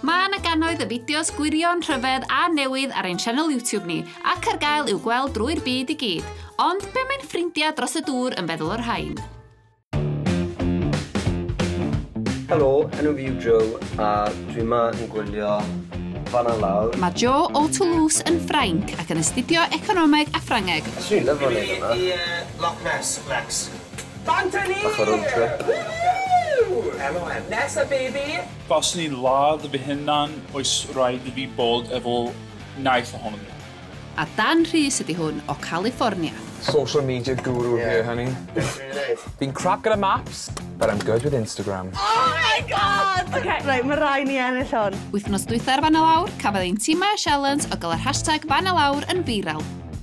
Mae yna gannoedd y fideos gwirion, rhyfedd a newydd ar ein sianel YouTube ni, ac ar gael i'w gweld drwy'r byd i gyd. Ond be mae'n ffrindiau dros y dŵr yn feddwl o'r rhain? Helo, enw fi yw Joe a dwi yma yn gwylio fanna lawr. Mae Joe o Toulouse yn Ffrainc ac yn astudio economeg a Ffrangeg. Swn i'n lyfo wneud yma. Loch Ness, Lex. Bant a ni! Bach o road trip. Woohoo! MOM. Nesa baby! Faswn i'n ladd fy hunan oes raid i fi bod efo knife ohono fi. A Dan Rhys ydi hwn o California. Social media guru here honey. Be dwi myn i neud? Fi'n crap gyda maps but I'm good with Instagram. Oh my God! Ok reit ma rai ni ennill hwn. Wythnos dwytha'r fan a lawr cafodd ein timau sialens o gael yr hashtag fan a lawr yn viral.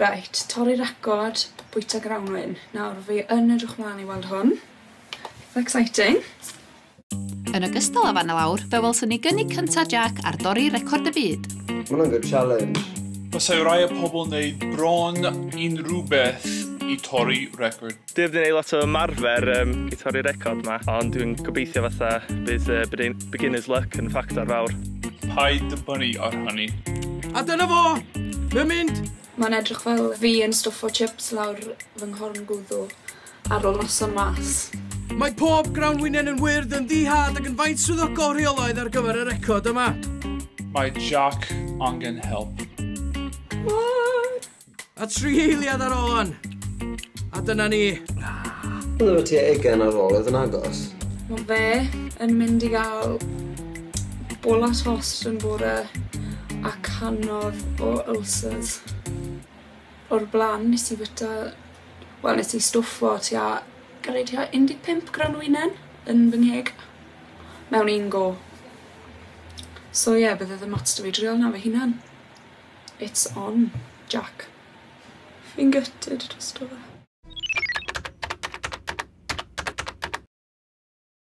Reit, torri record bwyta grawnwin. Nawr, fi yn edrych mlaen i weld hwn. It's exciting. Yn ogystal â fan y lawr, fe welson ni gynnig cyntaf Jack ar dorri record y byd. Mae'n good challenge. Basai rai o pobl wneud bron unrhywbeth i torri record. Dwi heb 'di neud lot o ymarfer yym i torri'r record 'ma, ond dwi'n gobeithio fatha bydd yy bydin- beginner's luck yn ffactor fawr. Paid â brynu o'r hynny. A dyna fo! Mae'n mynd! Mae'n edrych fel fi yn stwffo chips lawr fy nghorn gwddw ar ôl noson mas. Mae pob grawnwinen yn wyrdd, yn ddi-had ac yn faint swyddogol rheolaidd ar gyfer y record yma. Mae Jac angen help. C'mon! A tri eiliad ar ôl hon. A dyna ni. Byddwn y tua ugain ar ôl oedd yn agos. Mae fe yn mynd i gael bola tost yn bore a canodd o ulcers. O'r blaen nes i fita, wel nes i stwffo tua, gyrru tua 15 gran o winen yn fy ngheg mewn un go. So ie, yeah, bydde ddim ots da fi drial na fy hunan. It's on, Jac. Fi'n gutted drosto fe.